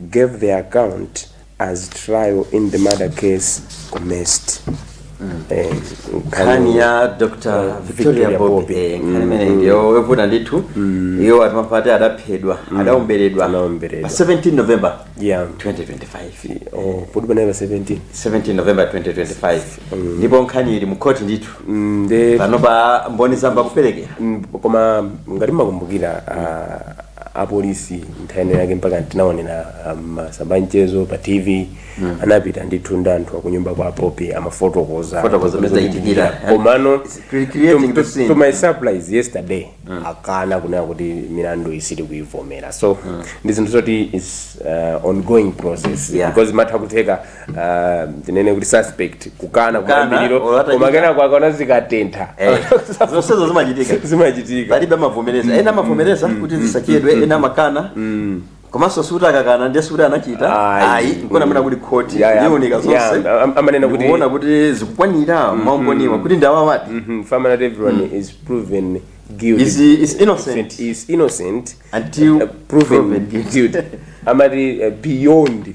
gave the account as trial in the murder case commenced. Eh, nkhani ya dr victoria Victoria Bobe Bobe. eh, nkhani imene ndiyo yovuta ndithu iyo anthu amati adaphedwa adaomberedwa Adaomberedwa. pa 17 november Yeah. 2025 Oh, pa November 17. 17 november 2025 ndipo nkhani ili mukhoti ndithu Mm, panopa mboni zayamba kuperekera Mm, koma ngati mukukumbukira ah, apolisi nthawi inayake mpaka tinaonera m'masamba a mchezo pa tv mm. anapita ndithu ndi anthu akunyumba kwa Bobe amafotokoza Fotokoza momwe zinachitikira. komano Cre- recreating to- the to- scene. to my surprise yesterday akana kunena kuti milandu sakuivomera so ndi zinthu zoti is uh, ongoing process Yeah. because zimatha kutheka ah, ndinene kuti suspect kukana Kukana, kuyambiriro or atachita. koma kenako akaona zikutentha Eh, zonsezo zimachitika zimachitika palibe amavomereza ena amavomereza kuti zisachedwe ena amakana komanso sikuti akakana ndiye kuti sanachite Ayi. ayi nkuona amanena kuti khoti Ya, ya. liunika Ya, zonse am- amanena kuti- ndikuona kuti zikukwanira maumboniwa kuti ndi awa amati Mhm, amati everyone is proven guilty Is- is innocent. is innocent Until uh, proven proven guilty amati uh, beyond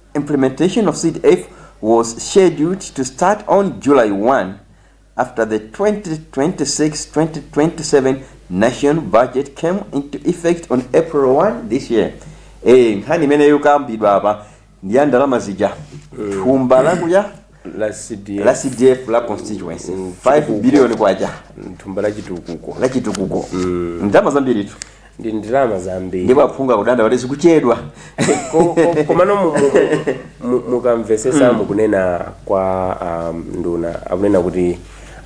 Implementation of CEDF was scheduled to start on July 1 after the 2026-2027 National Budget came into effect on April 1 this year. Eh, nkhani imene yokambidwa apa ndi ya ndalama zija thumba lija la CDF la CDF la constituency Mm, 5 chitukuko. billion kwacha mthumba la chitukuko la chitukuko ndalama zambiritu ndi ndalama zambiri ndipo aphunga akudandaula kuti zikuchedwa Ko- ko- komano mu- mu- mu- mukamvesesa mukunena kwa um, nduna akunena kuti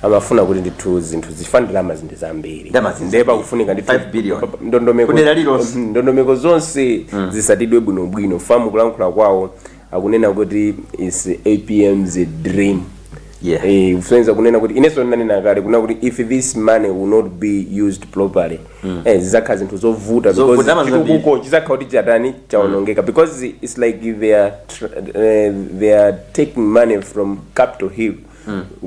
amafuna kuti ndithu zinthu chifukwa ndalamazi ndi zambiri Ndalamazitu ndiye pakufunika ndithu- 5 billion. pa- pa- ndondomeko- Kudera lilonse. ndondomeko zonse zitsatidwe bwinobwino chifukwa mukulankhula kwawo akunena kuti it's APM's dream Yeah. Eh, kusonyeza kunena kuti inenso ndinanena kale kunena kuti if this money will not be used properly eh, zidzakhala zinthu zovuta Zovuta because ndalamazo nzambiri. chitukuko chidzakhala kuti chatani chaonongeka because it's like they are, tr- eh, they are taking money from Capital Hill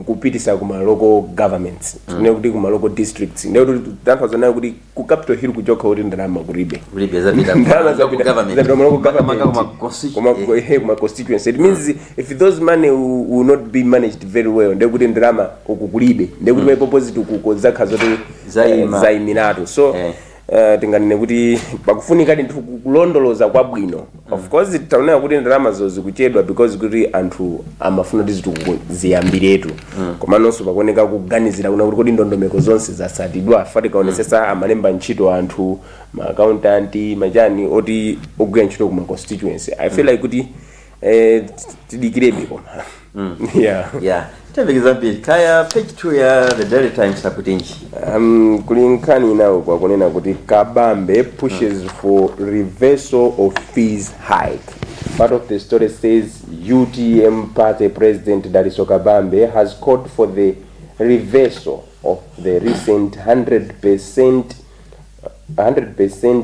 kupititsa kuma local governments tinene kuti kuma local districts ndiye kuti zikutanthauza kunena kuti ku Capital Hill kukhala kuti ndalama kulibe kulibe zapita ndalama zapita zapita kuma local government kuma constituency ehe kuma constituency it means if those money will, will not be managed very well ndiye kuti ndalama uku kulibe ndiye kuti mm. ma project uku adzakhala kuti Zaima. eh, zaimiratu so Eh. Uh, tinganene kuti pakufunikadi ndithu ku- kulondoloza kwabwino of course taonera kuti ndalamazo zikuchedwa because kuti anthu amafuna kuti zitukuko ziyambiretu komanso pakuoneka kuganizira kuna kuti kodi ndondomeko zonse zasatidwa chifukwa tikaonesesa amalemba ntchito anthu maakauntanti machani oti ogwira ntchito ku ma constituency i feel like kuti Eh, tidikirebe koma yeah ya tiyambike zambiri kaya page 2 ya the daily times akutinji um, kuli nkhani inayo kwakunena kuti kabambe pushes for reversal of fees hike part of the story says utm party president daliso kabambe has called for the reversal of the recent 100% 100%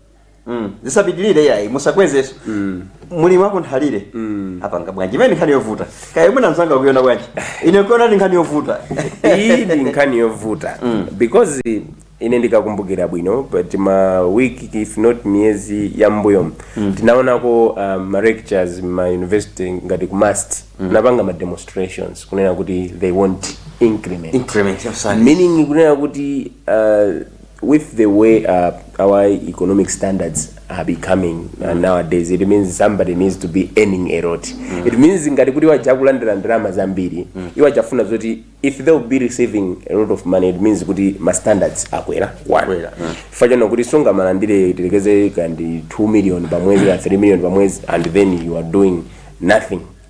zisapitirire yayi musakwezeso mulimi wa ku Nthalire apanga bwanji imene nkhani yovuta kaya imwe namzanga kuiona bwanji ine ndikuona ndi nkhani yovuta iyi ndi nkhani yovuta because ine ndikakumbukira bwino but ma week if not miyezi ya mbuyo tinaonako uh, ma lecturers ma university ngati ku MUST anapanga ma demonstrations kunena kuti they want increment increment of size meaning kunena kuti uh, With the way uh, our economic standards are becoming uh, nowadays it means somebody needs to be earning a lot it means ngati kuti waja akulandira ndalama zambiri iwo akufuna zoti if they will be receiving a lot of money it means kuti ma standards akwera Akwera, mm. fa chani kuti sungamalandire tiyerekeze ngati 2 million pa mwezi or 3 million pa mwezi and then you are doing nothing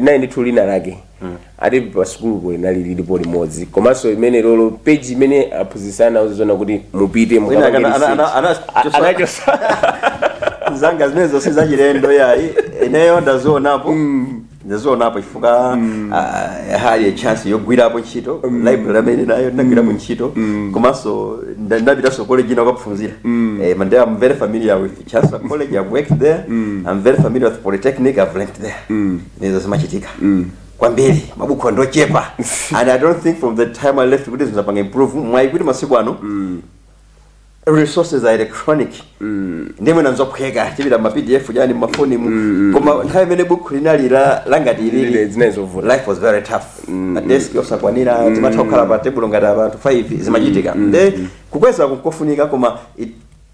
naye ndi buku lina lake ati pa sukulupo linali lilipo limodzi komanso limenelolo peji imene aphunzitsi anauza zonena kuti mupite Wina mukapange kana- ana- research. ana- ana- A- chosa- anachosa zangazi zimenezo sizonso zachilendo yayi ineyo ndazionapo ndazionapo chifukwa ah, I had a chance yogwirapo ntchito library amenewa ndagwirapo ntchito komanso nda- ndapitanso college ina kukaphunzira Eh, but I'm very familiar with Chancellor College, I've worked there. I'm very familiar with Polytechnic, I've learned there. Izo zimachitika. Kwambiri, mabuku ndochepa. And I don't think from the time I left kuti zinapanga improve. Mwayi kuti masiku ano. Resources are electronic. Ndi mwina nzophweka zili pa ma PDF chani mafoni mu. Koma nthawi imeneyo buku linali la ngati ilili. zinali zovuta. Life was very tough. Mm. Desk osakwanira timatha kukhala pa table ngati apa anthu 5 zimachitika. Nde kukweza kukufunika koma it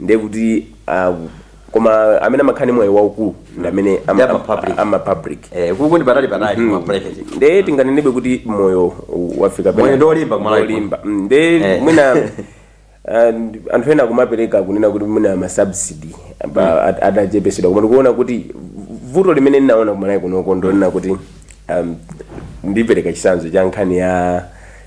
ndiye kuti ah, koma amene amakhala ndi mwayi waukulu ndi amene ama- Ndi ama public. ama public Eh, uku ndi patali patali ma private. nde tinganenebe kuti moyo wafika pena- Moyo ndi wolimba ku Malawi kuno. wolimba. Mm, nde Eh. mwina ah, anthu ena kumapereka kunena kuti mwina masubsidi apa- at- adachepesedwa koma tikuona kuti vuto limene ndinaona ku Malawi kunoko ndonena kuti um, ndipereka chisanzo cha nkhani ya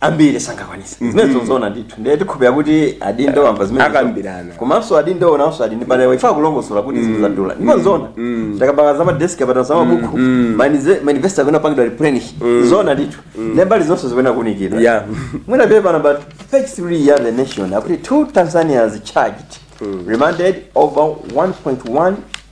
ambiri sangakwanise zimenezo nzoona ndithu ndiye tikhulupira kuti adindo amva zimene Akambirana. komanso adindo onanso adi ndi mbale wathu wafika kulongosola kuti zinthu zadula ndipo nzoona takamba za madeski apa tanena za mabuku ma university akuyenera apangidwe replenish nzoona ndithu nde mbali zonse zikuyenera kuunikira Yeah. mwina pepa pa number page 3 ya the nation akuti two tanzanians charged remanded over 1.1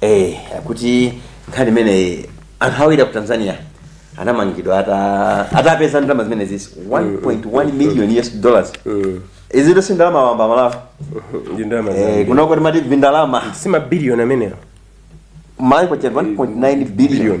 Eh, akuti nkhani imeneyi anthu awiri ku tanzania anamangidwa ata- atapeza ndalama zimenezi 1.1 million us dollars izitu si ndalama wamba malawi, ndi ndalama Eh, zambiri. kunoko timati vindalama si mabiliyoni amenewo malawi kwacha 1.9 billion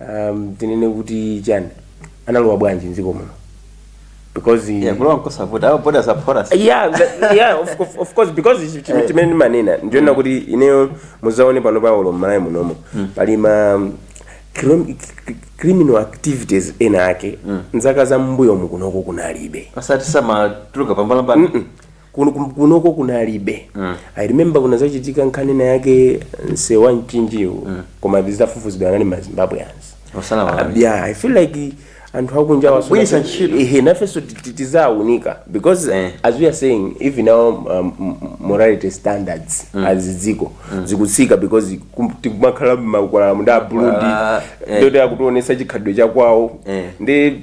um, tinene kuti chani analowa bwanji mdziko muno because Yeah, kulowa nkosavuta. Our borders are porous. yeah, that- yeah of, of, of course because chi- chi- chimene ndimanena ndiona kuti ineyo muzaone pano pa olo m'malawi munomo pali ma, um, crim- cri- criminal activities ena ake m'zaka za mbuyomu kunoko kunalibe Osati samatuluka pambalambanda. kuno kum- kunoko kunalibe Mm. i remember kunazachitika nkhani ina yake nseu wa mchinjiwu koma zitafufuzidwa anali mazimbabweans Osala wa- Uh, yeah i feel like anthu akunja waso- Kugwiritsa ntchito. Ehe, nafenso ti- ti- tizawunika because Eh. as we are saying even our um, m- morality standards as dziko zikutsika because kum- tikumakhala mmakwalalamu ndi a burundi Kwalala, eh. ndoti akutionetsa chikhalidwe chakwawo Eh. ndi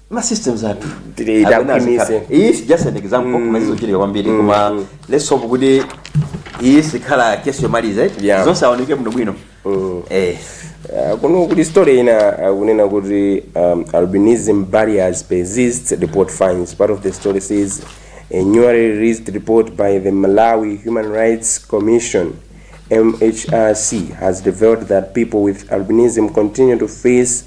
ma systems athu Tiwa- Akuti khwimise. azikhala- iyi is just an example koma zikuchitika kwambiri koma let's hope kuti iyi sikhala case yomaliza eh? Yeah. zonse aoneke bwino bwino Mm. eh Uh, kuno kuti story ina akunena kuti um, albinism barriers persist report finds part of the story says a newly released report by the malawi human rights commission mhrc has revealed that people with albinism continue to face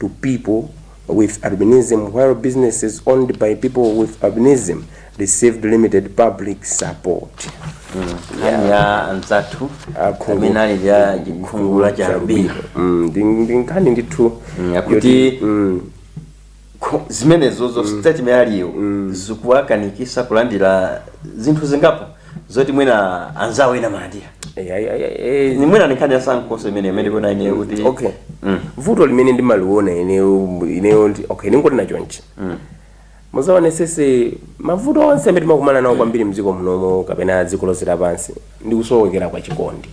to people with albinism while businesses owned by people with albinism received limited public support. nkhani ya anzathu Akhungu. amene ali ndi khungu la chialubino Mm, ndi- ndi nkhani ndithu Mm, akuti- yoti, mm, Ko- zimenezozo state imene alinayo zikuwakanikisa kulandira zinthu zingapo zoti mwina anzawo ena amalandira Eh, ai- ai- ai- eh, ni mwina ndi nkhani ya tsankhonso imene imene koma ineyo kuti okay Mm. vuto limene ndimaliona ineyo ineyo ndi- okay ningonena chonchi Mm. muzaonetsetse mavuto onse amene timakumana nawo kwambiri mdziko munomo kapena dziko lonse lapansi ndi kusowekera kwa chikondi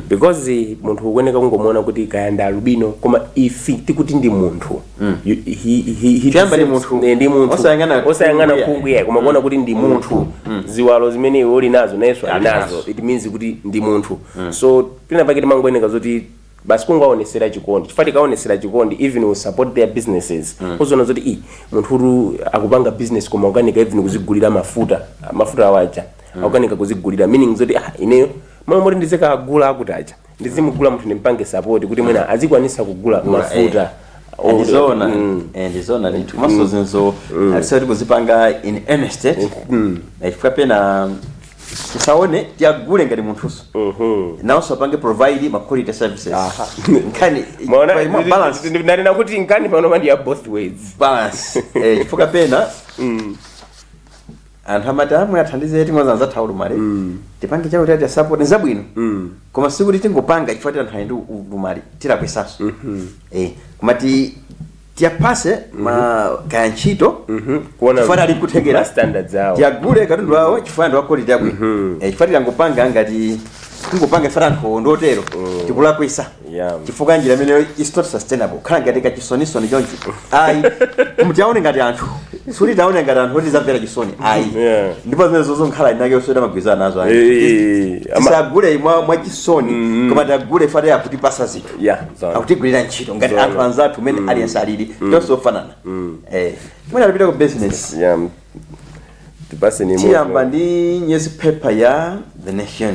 because munthu ukuyeneka kungomuona kuti kaya ndi alubino koma if tikuti ndi munthu You- he- he- he Chiyamba ndi deserves- munthu. eh, ndi munthu Osayang'ana osayang'ana khungu, yeah. khungu yeah, koma kuona kuti ndi munthu ziwalo zimene iwe uli nazo nayenso ali Ali nazo nazo. it means kuti ndi munthu so pina pake timangoyeneka zoti basi kungoonetsera chikondi chifukwa tikaonetsera chikondi even we support their businesses uziona zoti ii munthu uyu akupanga business koma akukanika even kuzigulira mafuta mafuta awaja akukanika kuzigulira meaning zoti ah ineyo M'malo moti ndizikagula akutchatcha. Ndizimugula munthu ndimpange support kuti mwina azikwanisa kugula Gula, mafuta. eh. ndizona Mm. eh, ndizona ndithu komanso zinazo alisa kuti muzipanga in earnest eh? Eh, chifukwa pena tisaone tiagule ngati munthuso Mhm. nawonso apange provide ma quality services Aha. nkhani Mwaona pa- ma- balance ndinanena kuti nkani pano ma ndi ya both ways. balance eh, chifukwa pena anthu amati anwe athandize eti mwaza anzathu aulumali Mm. tipange chakuti tiwasapoti nzabwino Mm. koma sikuti tingopanga chifukwa oti anthu ali ndi ulumali tilakwisanso Mhm. eh, koma ti tiyapase ma kaya ntchito Mhm. Kuona chifukwa ali kuthekera standards awo. tiyagule katundu wawo chifukwa ndi wa quality yabwino Mhm. Eh, chifukwa tikangopanga ngati tingopanga ife ati anthu ndotero tikulakwisa Yeah. chifukwa njira imeneyo is not sustainable ikhala ngati kachisonisoni chonchi ayi koma tiaone ngati anthu osati tiaone ngati anthu oti tizamvera chisoni ayi Yeah. ndipo zimene izozo ngakhale eni ake osewera samagwirizana nazo ayi Eh, ama- tisagule mwa mwa chisoni koma tiagule ife ati akutipasa zinthu Yeah, zona. akutigwirira ntchito ngati Zona. anthu anzathu mmene aliyense alili tonse ofanana Eh, mwina tipita ku business Yeah. Tipase ndiye tiyamba ndi newspaper ya the nation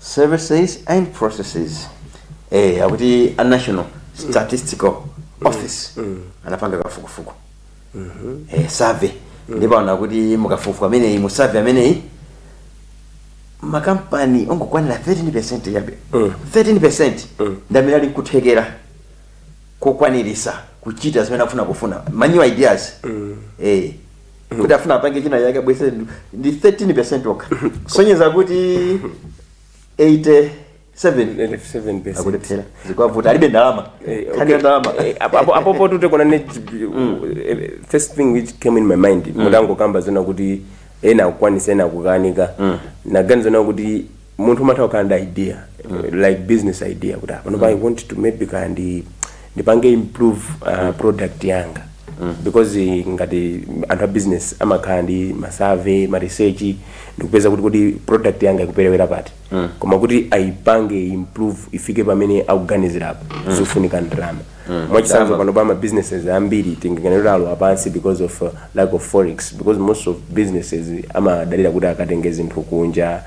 Services and processes eh, akuti a national statistical office anapanga kafukufuku eh, survey ndipo aona kuti mukafukufuku ameneyu mu survey ameneyi makampani ongokwanira 13% chabe 13% ndi amene ali nkuthekera kokwanirisa kuchita zimene akufuna kufuna manew ideas eh, kuti afuna apange china chake abwese ndi- ndi 13% okha kusonyeza kuti 87 87%. akulephera zikuwavuta alibe ndalama Eh, nkhani okay. ya ndalama Eh, apo- apo- apo poti tikuona ndiye eh, first thing which came in my mind mutangokamba zonena kuti ena akukwanisa ena akukanika ndinaganiza kunena kuti munthu umatha kukhala ndi idea like business idea kuti ah, pano pa i want to maybe kaya ndi ndipange improve uh, product yanga because eh, ngati anthu a business amakhala ndi masurvey ma research ndikupeza kuti kuti product yanga ikuperewera pati koma kuti ayipange improve ifike pamene akuganizirapo zofunika ndalama mwachitsanzo pano pa ma businesses ambiri tinganene alowa pansi because of uh, lack of forex because most of businesses amadalira kuti akatenge zinthu kunja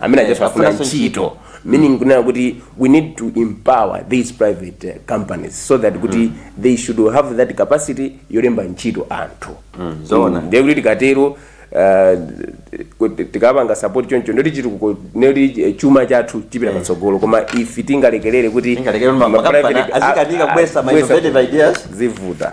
amene Eh, ajanso afuna afunanso ntchito meaning kunena kuti we need to empower these private eh, companies so that kuti they should have that capacity yolemba ntchito anthu zoona. Mm, ndiye kuti tikatero eh, kuti tikapanga support choncho ndoti chitukuko ndoti eh, chuma chathu chipita patsogolo koma if tingalekelere kuti Tingalekelere kuti ma- ma- private- makampani azikanika ah, kubwesa ma kubwesa- innovative ideas. zivuta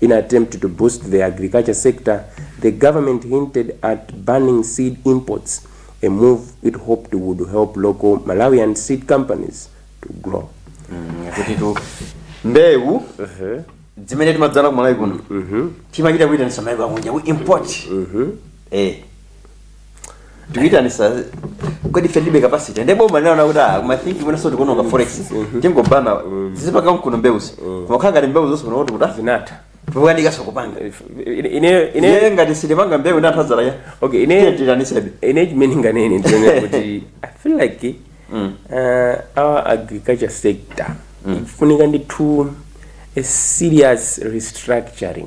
In attempt to boost the agriculture sector, the government hinted at banning seed imports, a move it hoped would help local Malawian seed companies to grow. kutitu mbewu zimene timadzala kumalawi kuno timachita kuitanisa maiko akunja we import eh tikuitanisa kodi ife tilibe capacity ende boma linaona kuti ah koma think mwina so tikuononga forex tingobana tizipanga mkuno mbewuzi koma kukhala ngati mbewu zonse pano kuti kuti ah, zinatha tikukanikaso kupanga Ine- ine- ine- iye ngati sitipanga mbewu ndi anthu adzalaya okay ine tiitanisebe ine chimene nganene ndi kunena kuti i feel like Mm. uh, our agriculture sector ikufunika ndithu a serious restructuring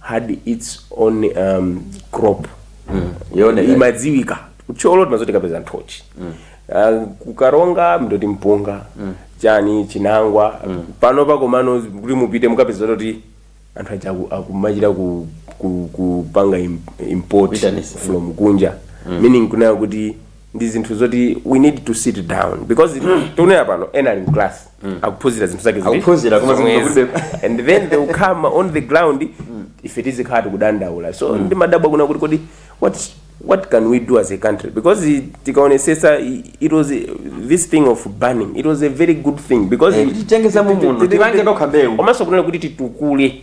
had its own um, crop Yooneka. imadziwika ku Thyolo timaziwa tikapeza nthochi uh, ku Karonga mndoti mpunga chani chinangwa panopa komano kuti mupite mukapeza kuti anthu aja aku- akumachita ku, ku, kupanga im- import Kuitanisa. from kunja meaning kunena kuti ndi zinthu zoti we need to sit down because tikunena pano ena ali mu class akuphunzira zinthu zake zili Akuphunzira, koma zinthu zomwezi. kulibe. and then they will come on the ground ife tizikhala tikudandaula so ndimadabwa kunena kuti kodi what what can we do as a country because i- tikaonesesa i- it was a- this thing of banning it was a very good thing because Eh, titenge za mommuno, tipange tokha mbewu. komanso kunena kuti titukule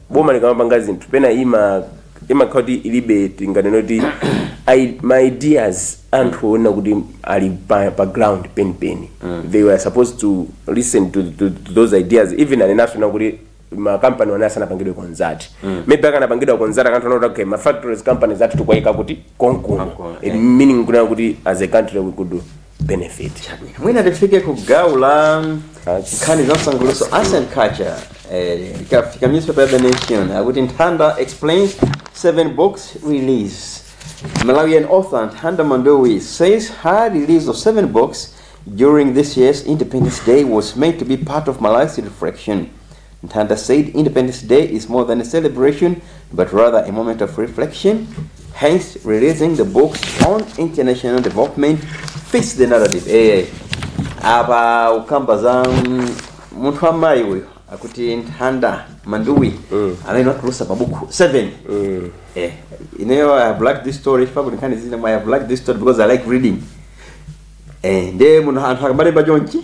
boma likamapanga zinthu pena ima imakhala kuti ilibe tinganene kuti i- ma ideas anthu onena kuti ali pa, pa ground penipeni they were supposed to listen to, to, to those ideas even anenaso kunena kuti makampaniwa sanapangidwe consult maybe akanapangidwa consult akanatha kunena kuti okay ma factories companies athu tikuwaika kuti konkuno Konkuno, It meaning kunena kuti as a country we could benefit chabwino mwina tifike ku gawo la nkhani za msangulutso arts and culture eh, ka- ka newspaper ya the nation akuti nthanda explains seven books release malawian author nthanda mandowi says her release of seven books during this year's independence day was meant to be part of malawi's reflection Nthanda said Independence Day is more than a celebration, but rather a moment of reflection. Hence, releasing the books on international development fits the narrative. Eh, apa akukamba za mm, munthu wamayi uyu akuti Nthanda Manduwi amene watulusa mabuku 7 eh, ineyo i have liked this story chifukwa kuti nkhani zina i have liked this story because i like reading eh, nde munthu anthu akamalemba chonchi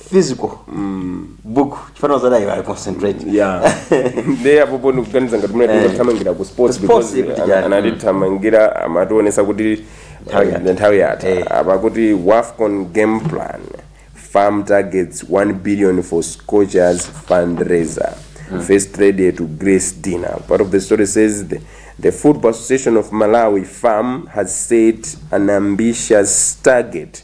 physical mm, book chifana uzadayi ali concentrate ya nde apo poni kuganiza ngati muna Eh. tingathamangira ku sports Ku sports because kuti ana- chani. anatithamangira amationesa kuti Nthawi eh, yatha. nthawi Eh. yatha apa kuti wafcon game plan farm targets 1 billion for scorchers fundraiser first trade to grace dinner part of the story says the, the football association of malawi farm has set an ambitious target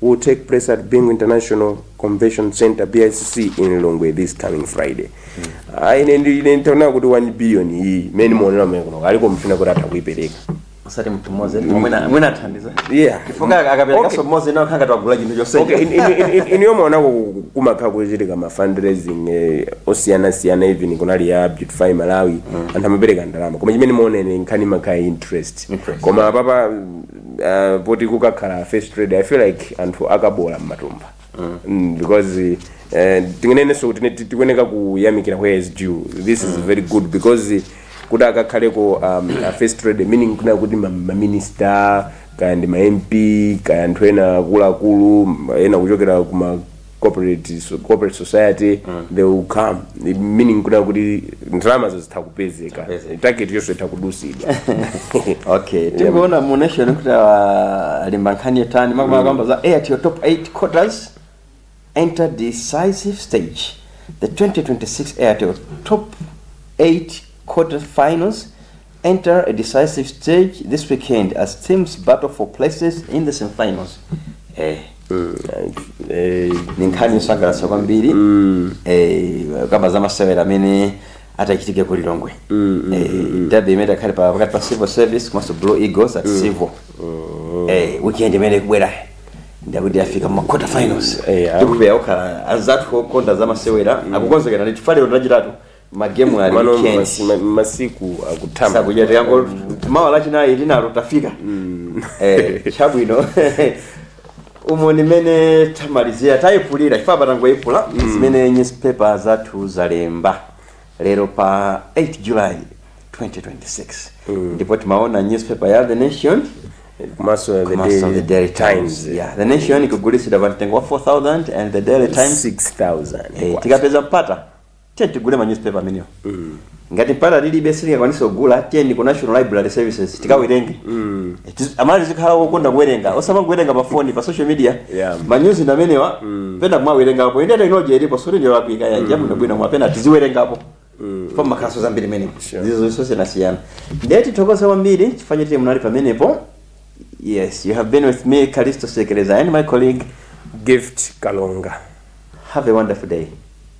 will take place at Bingu International Convention Center BICC in Lilongwe this coming Friday. Ah, ine ndi ine nitaona kuti 1 billion iyi mmene muonera mene kuno aliko mfuna kuti atha kuipereka. osati munthu mmodzi mwina mwina athandiza Yeah. chifukwa Okay. akaperekanso mmodzi nawo khala ngati wagula chinthu Okay, chonsecho in, in, in, ineyo mmaonako kumakhala kuchitika ma fundraising eh, osiyana siyana even kunali ya Beautify Malawi anthu amapereka ndalama koma chimene mmaona ine nkhani imakhala interest Interest. koma apapa uh, poti kukakhala First Lady i feel like anthu akaboola mmatumba mm. mm, because uh, tinganenenso kuti ne- ti- tikuyeneka kuyamikira where is due this is very good because kuti akakhaleko um, a First Lady meaning kunena kuti ma- maminister kaya ndi ma mp kaya anthu ena akuluakulu m- ena kuchokera kuma corporate so- corporate society they will come meaning kuna kuti ndalamazo zitha kupezeka Kupezeka. target yonse itha kudusidwa okay tingoonanso mu nation kuti alemba nkhani yotani makamaka kamba za airtel top 8 quarters enter decisive stage the 2026 airtel top 8 quarter finals enter a decisive stage this weekend as teams battle for places in the semifinals eh eh, ni nkhani yosangalatsa kwambiri eh, kamba za masewera amene atachitike ku lilongwe Eh, derby imene ikhale pa- pakati pa civil service komanso blue eagles at civil Eh, weekend imene ikubwera ndipo akuti afika mu quarter finals Eh, ah. tikupempha okhala anzathu okonda za masewera akukonzekera ndi chifukwa lero ndachitatu magemu ali Mano, weekend. masi- ma- masiku akuthamanga sakuchedwa tiyango mawa lachinayi linalo tafika Eh, chabwino umo nimene tamalizira tayipulira chifukwa patangoyipula zimene newspaper zathu zalemba lero pa 8 july 2026 ndipo timaona newspaper ya the nation komanso the komanso the daily daily times times yeah, the nation ikugulitsidwa pa mtengo wa 4000 and the daily times 6000 eh, tikapeza mpata tiyeni tigule ma newspaper amenewa ngati mpata tilibe sitingakwanitse kugula tiyeni ku national library services tikawerenge Eh, tiz- amalawi tizikhala okonda kuwerenga osamangowerenga pa foni pa social media Yeah. ma news ndi amenewa pena kumawerengapo inde technology ilipo soti ndiyo yafika ya jamu ndabwino koma pena tiziwerengapo pa makhalanso zambiri mene Sure. zinthu zosiyanasiyana ndiye tithokoza kwambiri chifukwa choti munali pamenepo yes you have been with me calisto sekeleza and my colleague gift kalonga have a wonderful day